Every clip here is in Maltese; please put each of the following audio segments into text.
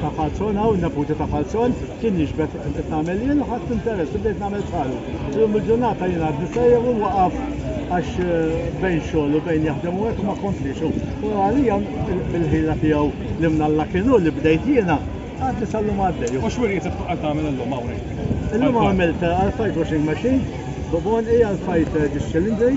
ta' Falzon hawn, in-neputi ta' Falzon, kien jixbeh fi qed nagħmel jien u ħadt interess u bdejt nagħmel bħalu. Illum il-ġurnata jiena għad nisejjaħ u nwaqaf għax bejn xogħol u bejn jaħdem u hekk ma kompliex hu. U għalija bil-ħila tiegħu li minn Alla kien hu li bdejt jiena, għadni sal-lum għaddej u. U x'wirjiet qed qed tagħmel illum hawn hekk? Illum għamilt għall-fight washing machine, bubonqi għall-fight dish cylindri,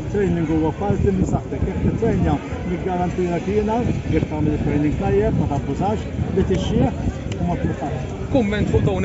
It-training huwa parti minn saħħtek. Jekk tittrainja, niggarantilek jiena, jekk tagħmel it-training tajjeb, ma tabbużax, li tixjieħ u ma tmutarx. Kumment fuq dawn